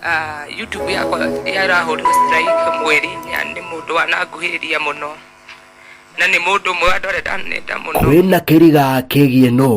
Ah, youtube yakwa yarahũrirwo strike mweri-inĩ na nĩ mũndũ wananguhĩrĩria mũno na nĩ mũndũ ũmwe wa andũ arĩa ndanenda mũno kwĩna kĩriga kĩgiĩ nũ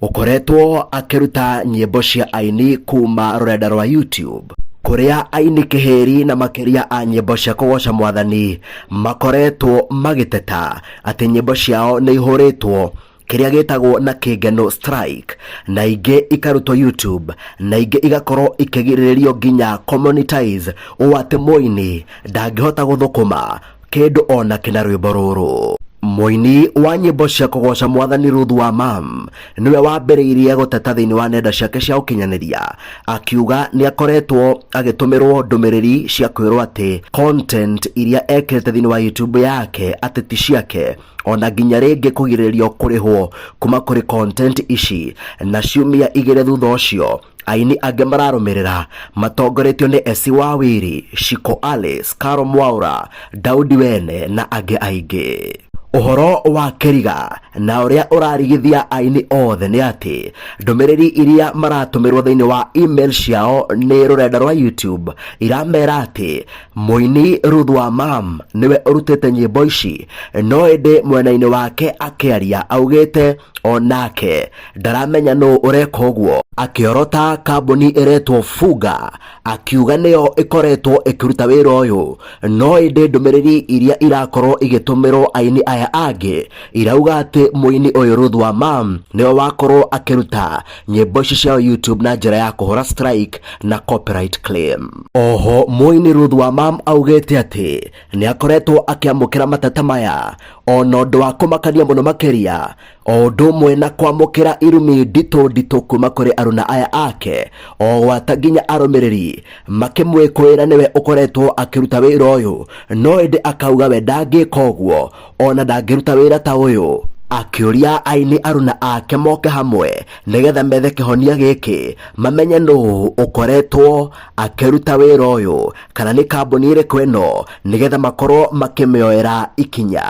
ũkoretwo akĩruta nyĩmbo cia aini kuma rũrenda rwa youtube kũrĩa aini kĩhĩri na makĩria a nyĩmbo cia kũgoca mwathani makoretwo magĩteta atĩ nyĩmbo ciao nĩ ihũrĩtwo kĩrĩa gĩtagwo na kĩngeno strike na ingĩ ikarutwo youtube na ingĩ igakorwo ikĩgirĩrĩrio nginya commonetize ũũ atĩ mũini ndangĩhota gũthũkũma kĩndũ ona kĩna rwĩmbo rũrũ mũini wa nyĩmbo cia kũgoca mwathani Ruth wa mam nĩwe wambĩrĩirie gũteta thĩinĩ wa nenda ciake cia ũkinyanĩria akiuga nĩ akoretwo agĩtũmĩrwo ndũmĩrĩri cia kwĩrwo atĩ content iria ekĩrĩte thĩinĩ wa youtube yake atĩ ti ciake ona nginya rĩngĩ kũgirĩrĩrio kũrĩhwo kuma kũrĩ content ici na ciumia igĩrĩ thutha ũcio aini angĩ mararũmĩrĩra matongoretio nĩ Esi wa Wiri, Shiko Alice, Karo Mwaura, Daudi Wene na angĩ aingĩ. Ũhoro wa Kĩriga na ũrĩa ũrarigithia aini othe nĩ atĩ ndũmĩrĩri iria maratũmĩrwo thĩinĩ wa email ciao nĩ rũrenda rwa YouTube iramera atĩ Mũini Ruth wa Mam nĩwe ũrutĩte nyĩmbo ici no ĩndĩ mwena-inĩ wake akĩaria augĩte onake ndaramenya nũ ũreka ũguo akĩorota kambuni ĩretwo Fuga akiuga nĩyo ĩkoretwo ĩkĩruta wĩra ũyũ no ĩndĩ ndũmĩrĩri iria irakorwo igĩtũmĩrwo aini aya angĩ irauga atĩ mũini ũyũ Ruth wa Mam nĩwe wakorwo akĩruta nyĩmbo ici ciao YouTube na njĩra ya kũhũra strike na copyright claim. Oho mũini Ruth wa Mam augĩte atĩ nĩ akoretwo akĩamũkĩra mateta maya ona ũndũ wa kũmakania mũno makĩria o ũndũ ũmwe na kwamũkĩra irumi nditũ nditũ kuma kũrĩ aruna aya ake o gwata nginya arũmĩrĩri makĩmwĩkũĩra nĩwe ũkoretwo akĩruta wĩra ũyũ no ĩndĩ akauga we ndangĩka ũguo ona ndangĩruta wĩra ta ũyũ akĩũria aini aruna ake moke hamwe nĩgetha methe kĩhonia gĩkĩ mamenye nũ ũkoretwo akĩruta wĩra ũyũ kana nĩ kambuni ĩrĩkũ ĩno nĩgetha makorwo makĩmĩoera ikinya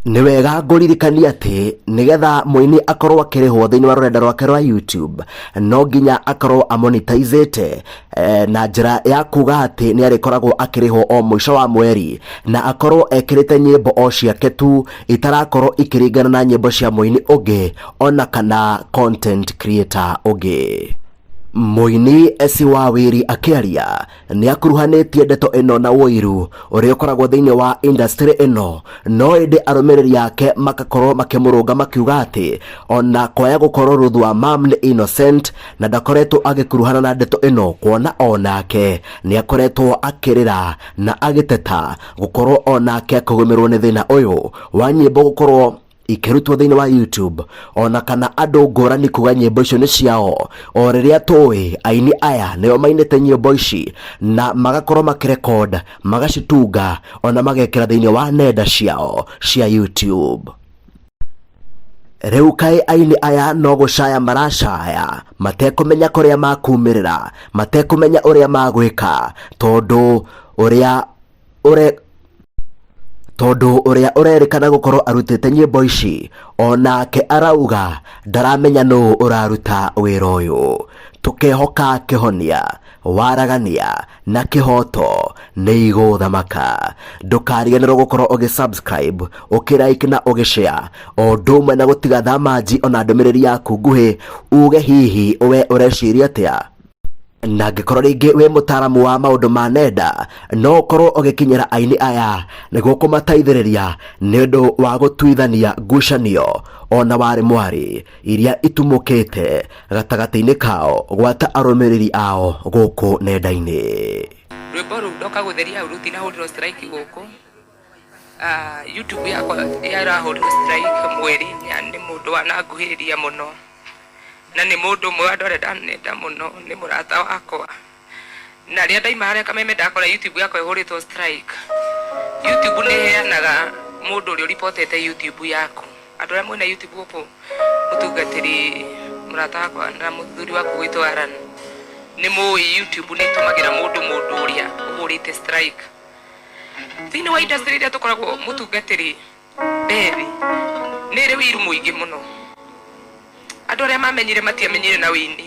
nĩ wega ngũririkania atĩ nĩgetha mũini akorwo akĩrĩhwo thĩinĩ wa rũrenda rwake rwa youtube no nginya akorwo amonitizĩte eh, na njĩra ya kuga atĩ nĩ arĩkoragwo akĩrĩhwo o mũico wa mweri na akorwo ekĩrĩte nyĩmbo o ciake tu itarakorwo ikĩringana na nyĩmbo cia mũini ũngĩ ona kana content creator ũngĩ mũini esi wa wĩri akĩaria nĩ akuruhanĩtie ndeto ĩno na ũiru ũrĩa ũkoragwo thĩinĩ wa industry ĩno no ĩndĩ arũmĩrĩri ake makakorwo makĩmũrũnga makiuga atĩ ona kwaya gũkorwo rũthwa mam nĩ innocent na ndakoretwo agĩkuruhana na ndeto ĩno kuona o nake nĩ akoretwo akĩrĩra na agĩteta gũkorwo o nake akũgũmĩrwo nĩ thĩna ũyũ wa nyĩmbo gũkorwo ikĩrutwo thĩinĩ wa YouTube ona kana andũ ngũrani kuga nyĩmbo icio nĩ ciao o rĩrĩa tũĩ aini aya nĩo mainĩte nyĩmbo ici na magakorwo makĩrekod magacitunga ona magekĩra thĩinĩ wa nenda ciao cia YouTube Rĩu kaĩ aini aya no gũcaya maracaya matekũmenya kũrĩa makumĩrĩra, matekũmenya ũrĩa magwĩka tondũ ũrĩa ũre tondũ ũrĩa ũrerĩkana gũkorwo arutĩte nyĩmbo ici onake arauga ndaramenya nũ ũraruta wĩra ũyũ. Tũkehoka kĩhonia. waragania na kĩhoto nĩ igũthamaka ndũkariganĩrwo gũkorwo ũgĩ subscribe ũkĩraiki na ũgĩshare o ũndũ ũmwe na gũtiga thamanji ona ndũmĩrĩri yaku nguhĩ uge hihi we ũreciria atĩa na angĩkorwo rĩngĩ wĩ mũtaaramu wa maũndũ ma nenda no ũkorwo ũgĩkinyĩra aini aya nĩguo kũmateithĩrĩria nĩ ũndũ wa gũtuithania ngucanio ona warĩ mwarĩ iria itumũkĩte gatagatĩ-inĩ kao gwata arũmĩrĩri ao gũkũ nenda-inĩ rwĩmbo rũu ndoka gũtheria hau rũtirahũrirwo strike gũkũ Ah, youtube yakwa yarahũrirwo strike mweri na nĩ mũndũ wananguhĩrĩria mũno na nĩ mũndũ ũmwe wandorenda nenda mũno nĩ mũrata wakwa Na rĩa ndaima harĩa kameme ndakora YouTube yakwa ĩhũrĩtwo strike. YouTube nĩ heanaga mũndũ ũrĩa ũripotete YouTube yaku. Andũ arĩa mwĩna YouTube gũkũ mũtungatĩri mũrata wakwa na mũthuri waku gwitũ Aran nĩ mũĩ YouTube nĩ ĩtũmagĩra mũndũ mũndũ ũrĩa ũhũrĩte strike. Thĩinĩ wa industry iria tũkoragwo mũtungatĩri Bethi nĩ ĩrĩ wĩiru mũingĩ mũno. Andũ arĩa mamenyire matiamenyire na wĩini.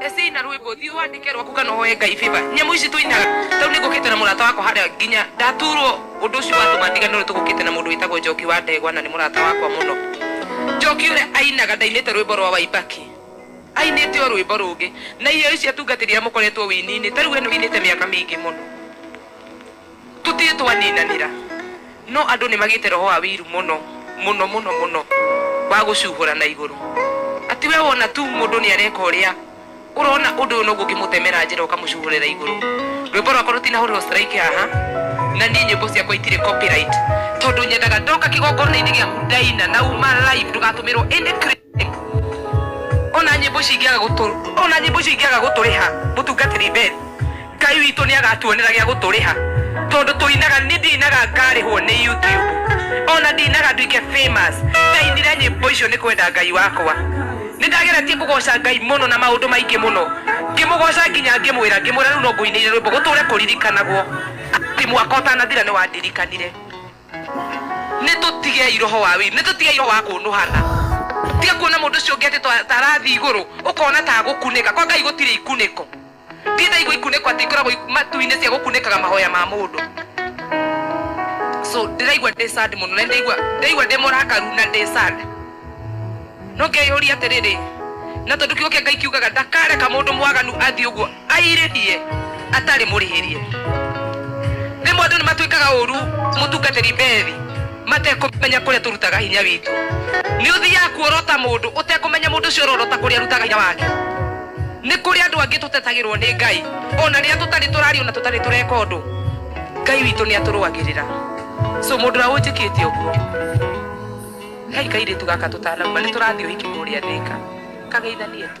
Ecei na rwimbo thiu wandike rwaku kana uhoe ngai favor nyamu ici tuinaga tau ni ngukite na murata wakwa haria nginya ndaturwo undu ucio watuma ndigane ri tugukite na mundu witagwo njoki wa ndegwa na ni murata wakwa muno njoki uria ainaga ndainite rwimbo rwa waibaki ainite o rwimbo rungi na iheo ici atungatiri aria mukoretwo wini-ini tariu we ni winite miaka mingi muno Tũtirĩ twaninanĩra, no andũ nĩ magĩte roho wa ũiru mũno, mũno, mũno, mũno, wa gũcuhũra na igũrũ. Atĩ we wona tu mũndũ nĩ areka ũrĩa, ũrona ũndũ ũyũ noguo ũngĩmũtemera njĩra ũkamũcuhũrĩra igũrũ. Rwĩmbo rwakwa rũtinahũrĩrwo strike haha, na niĩ nyĩmbo ciakwa itirĩ copyright, tondũ nyendaga ndoka kĩgongona-inĩ gĩaku ndaina na uma live ndũgatũmĩrwo any credit. ona nyimbo cingĩaga gũtũ ona nyimbo cingĩaga gũtũrĩha mũtungatĩri mbere ngai witũ nĩ agatuonera gĩa gũtũrĩha tondũ tũinaga nĩ ndinaga ngarĩhwo nĩ youtube ona ndinaga nduike famous ndainire nyimbo icio nĩ kwenda ngai wakwa nĩ ndageretie kũgoca ngai mũno na maũndũ maingĩ mũno ngĩmũgoca nginya ngĩmwĩra ngĩmwĩra rĩu no ngũinĩire rwĩmbo gũtũre kũririkanagwo atĩ mwaka ũtanathira nĩ wandirikanire Nĩ tũtigei roho wa wĩiru, nĩ tũtigei roho wa kũnũhana. Tiga kuona mũndũ ũcio ũngĩ atĩ ta ta arathiĩ igũrũ, ũkona ta agũkunĩka. Kwa Ngai gũtirĩ ikunĩko. Ndirĩ ndaigua ikunĩko atĩ ikoragwo ik- matu-inĩ cia gũkunĩkaga mahoya ma mũndũ. So ndĩraigua ndĩ sad mũno na nĩ ndaigua ndaigua ndĩ mũrakaru na ndĩ sad. No ngeyũria atĩrĩrĩ, na tondũ kiugo kĩa Ngai kiugaga ndakareka mũndũ mwaganu athiĩ ũguo airĩhie atarĩ mũrĩhĩrie. Rĩmwe andũ nĩ matwĩkaga ũru mũtungatĩri mbethi matekũmenya kũrĩa tũrutaga hinya witũ. Nĩ ũthiaga kuorota mũndũ ũtekũmenya mũndũ ũcio ũrorota kũrĩa arutaga hinya wake. Nĩ kũrĩ andũ angĩ tũtetagĩrwo nĩ Ngai ona rĩrĩa tũtarĩ tũraria ona tũtarĩ tũreka ũndũ, Ngai witũ nĩ atũrũagĩrĩra. So mũndũ ũrĩa ũnjĩkĩte ũguo Kai kairĩtu gaka tũtanauma nĩ tũrathiĩ ũhiki kũrĩa Thĩka. Kageithanie tu.